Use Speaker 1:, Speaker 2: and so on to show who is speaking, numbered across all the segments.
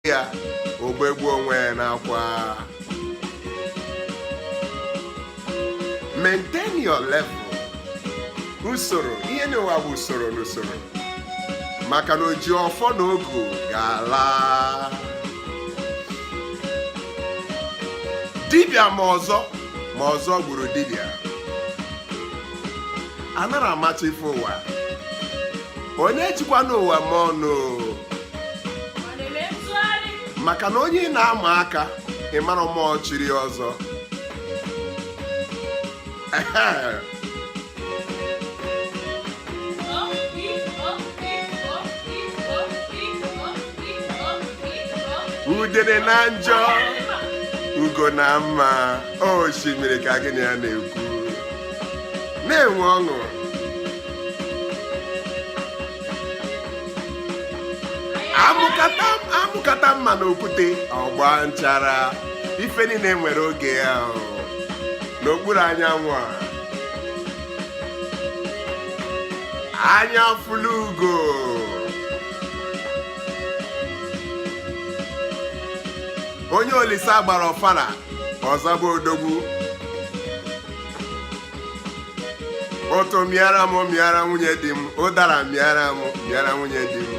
Speaker 1: ya ogbegbu onwe ya n'akwa maintain your level usoro ihe n'ụwa bụ usoro n'usoro maka na oji ọfọ na ogu ga-ala dibịa ma ọzọ ma ọzọ gburu dibịa anarọ amacha ife ụwa onye ejikwana ụwa eme ọnụ maka na onye ị na-ama aka ị marọ ma o chiri ọzọ udere na njọ ugo na mma osimiri ka gị na ya na-ekwu na-enwe ọṅụ a mụkata mma n'okwute ọ gbaa nchara ife niile nwere oge ya n'okpuru anyanwụ a anya fụlụ ugo onye olisa gbara ọfara ọzọ bụ odogwu utu mịara m mịara nwunye di m ụdara mịara m mịara nwunye di m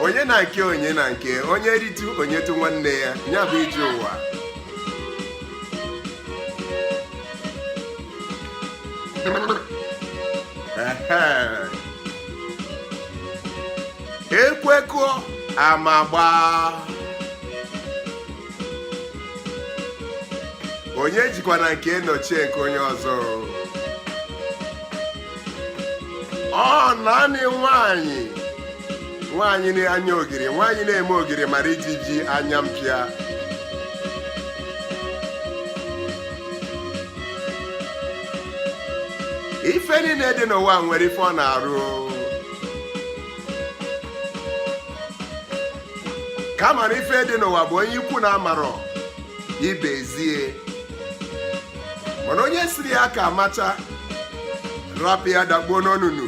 Speaker 1: onye na nke onye na nke onye ritụ o nyetụ nwanne ya ya bụ ije ụwa ekwekọ amagba onye ejikwana nke nọchie nke onye ọzọ ọ naanị nwaanyị nwaanyị na-anya ogiri nwaanyị na-eme ogiri mara ijiji anya mpịa ife niile dị n'ụwa nwere ife ọ na-arụ kama na ife dị n'ụwa bụ onye ikwu na-amarọ ibe ezie mana onye sịrị ya ka amacha rapụ ya dakpuo n'onunu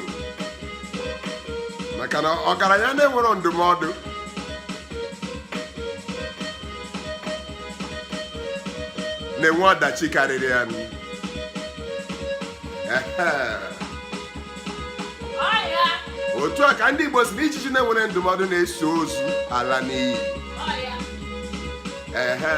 Speaker 1: maka na ọgaranya na-enwero ndụmọdụ na-enwe ọdachi karịrị ya nụ. Ehe. ọya otu a ka ndị Igbo sị na ijiji na-enwero ndụmọdụ na-eso ozu ala n'iyi ọya Ehe.